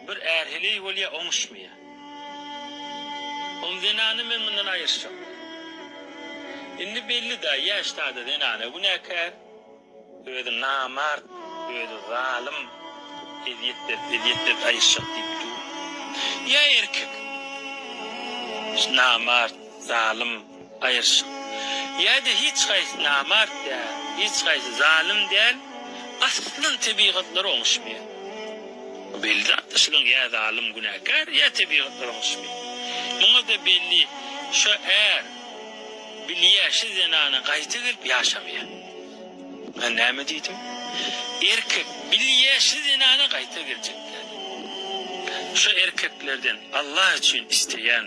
Bir är heleý bolýa oňuşmaýa. Ol zenany men mundan aýyrşak. Indi belli da ýaş sada zenana günäkär. Özi namart, özi zalym. Ezýet berip, ezýet berip aýyrşak diýip dur. Ýa erkek. Namart, zalym. Gaýyrşyk. Ýa-da hiç haýsy namart däl, hiç haýsy zalym däl, aslan tebigatlar oňuşmaýar. Bu belli zatdy, şunuň ýa zalym günäkär, ýa tebigatlar oňuşmaýar. Muňa-da belli, şo är bilýär, şo zenana gaýta gelip ýaşamaýar. Men näme diýdim? Erkek bilýär, şo zenana gaýta geljekdigini. Şo erkeklerden Allah üçin isleýän.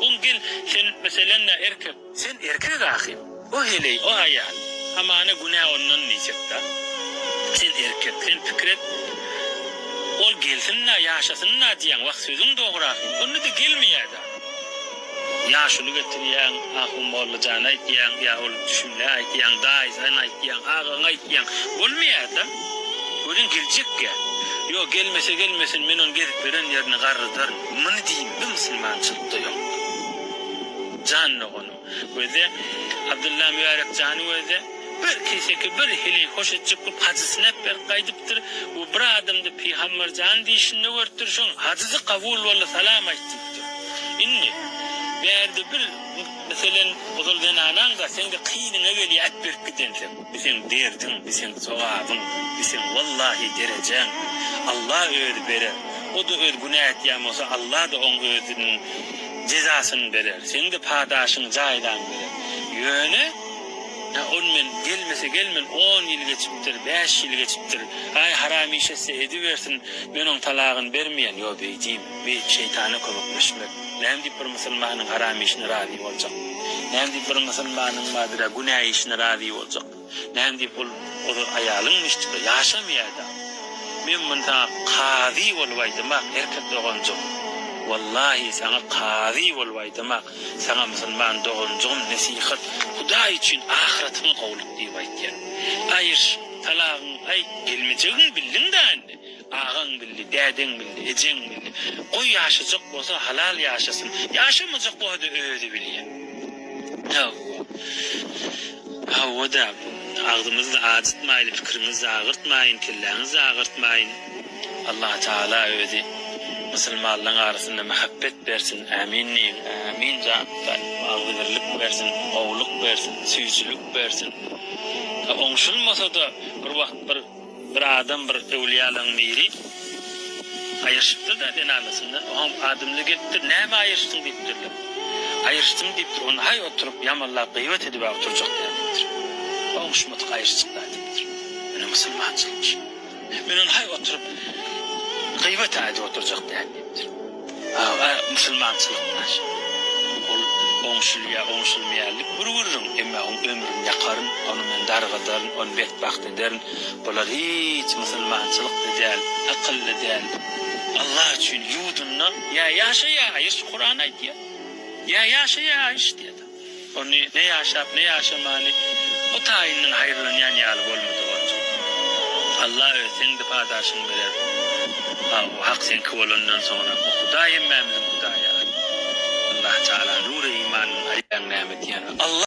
Ol gel, sen, meselenda, erkek. Sen erkek ahy. O heleý, o aýal. Hamana günä ondan diýjek-dä. Sen erkek, sen pikir et. Ol gelsin-dä, ýaşasyn-dä diýýäň. Wah, sözüň dogry ahy. Onda-da gelmeýä-dä. Ýaşuly getirýäň, Ahunmolla jan aýtýaň, ýa ol Düşümlä aýtýaň, daýzan aýtýaň, agaň aýtýaň. Bolmaýa-da. Welin geljek-ä. Ýok, gelmese gelmesin, men ony gezip ýören ýerine garrydaryn. Muny diýme musulmançylykda ýok. Jan doganym. Özde Abdylla Mübärek jany özde bir keseki bir hili hoş etjek bolup hajy synap berip gaýdypdyr we bir adamda Pygamber jan diýişinde görüpdir şoň hajysy kabul boldy salam aýt diýipdir. Indi bärde bir meselen ozal zenanaňda seňde kynyňa gelýär at berip gidenseň. Bu seň derdiň, bu seň sogabyň, bu seň wallahy derejäň. Alla özi berer. O-da öz günä etýän bolsa Alla-da oň özüniň jezasyny berer. Seň-de padaşyň jaýlaň berer. Ýöne, Hä ol men gelmese gelmen on ýyl geçipdir, bäş ýyl geçipdir. Aý haram iş etse edibersin, men oň talagyny bermeýän. Ýo beýdýin. we şeýtana kömekleşmek. Näme diýip bir musulmanyň haram işine razy boljak? Näme diýip bir musulmanyň madra günä işine razy boljak? Näme diýip ol ol aýalyň müştübe ýaşamaýada? Men muny saňa kazy bolup aýdamak erkek doganjygym. Wallahi saňa kazy bolup aýdamak saňa musulman doganjygym nesihat Hudaý üçin ahyratyňy gowluk diýip aýtýan. Aýyş, talagyňy aýt gelmejegiňi bildiňdä indi. Agaň bildi, dädeň bildi, ejeň bildi. Goý ýaşajak bolsa halal ýaşasyn. Ýaşamajak bolsa-da özi bilýä. Hawa. Hawa-da. Agzymyzy-da ajytmaýly, pikiriňizi-de agyrtmaýyn, kelläňizi-de agyrtmaýyn. Allatagala özi musulmanlaň arasynda mähebbet bersin. Ämin diýiň. Ämin Janatan. Agzybirlik bersin, gowulyk bersin, süýjülik bersin. Oňşulmasa-da bir wagt bir. Bir adam bir öwlüýälaň biri aýryşypdyr-da zenanasyndan, oňam adymly gelipdir, Näme aýryşdyň? diýipdirler. Aýryşdym diýipdir, onda haý oturyp ýamanlap gyýbat edibä oturjak däl diýipdir. Oguşmadyk aýryşjyk-la diýipdir. Ine musulmançylykmyş. Men onda haý oturyp gyýbat-a edip oturjak däl diýipdir. Aga musulmançylygyň naşy. Ol oňşulýar, oňşulmaýarlyk bir gürrüň, emma oň ömrüni ýakaryn, ony men dargadaryn, ony betbagt ederin. Bular hiç musulmançylykly däl, akylly däl. Allah üçin ýudunna ýa ýaşa ýa aýyş, Kuran aýdýar. Ýa ýaşa ýa aýyş diýýär. Ony ne ýaşap, ne ýaşamany bu taýyndan haýyrlanýan ýaly bolmady, Gonjam. Alla özi seň-de padaşyňy berer. Hawa, Hak seňki bolandan soňra, o Hudaý hemmämiziň Hudaýy. Allahy Tagala nury imandan aýaň näme diýýän? Alla!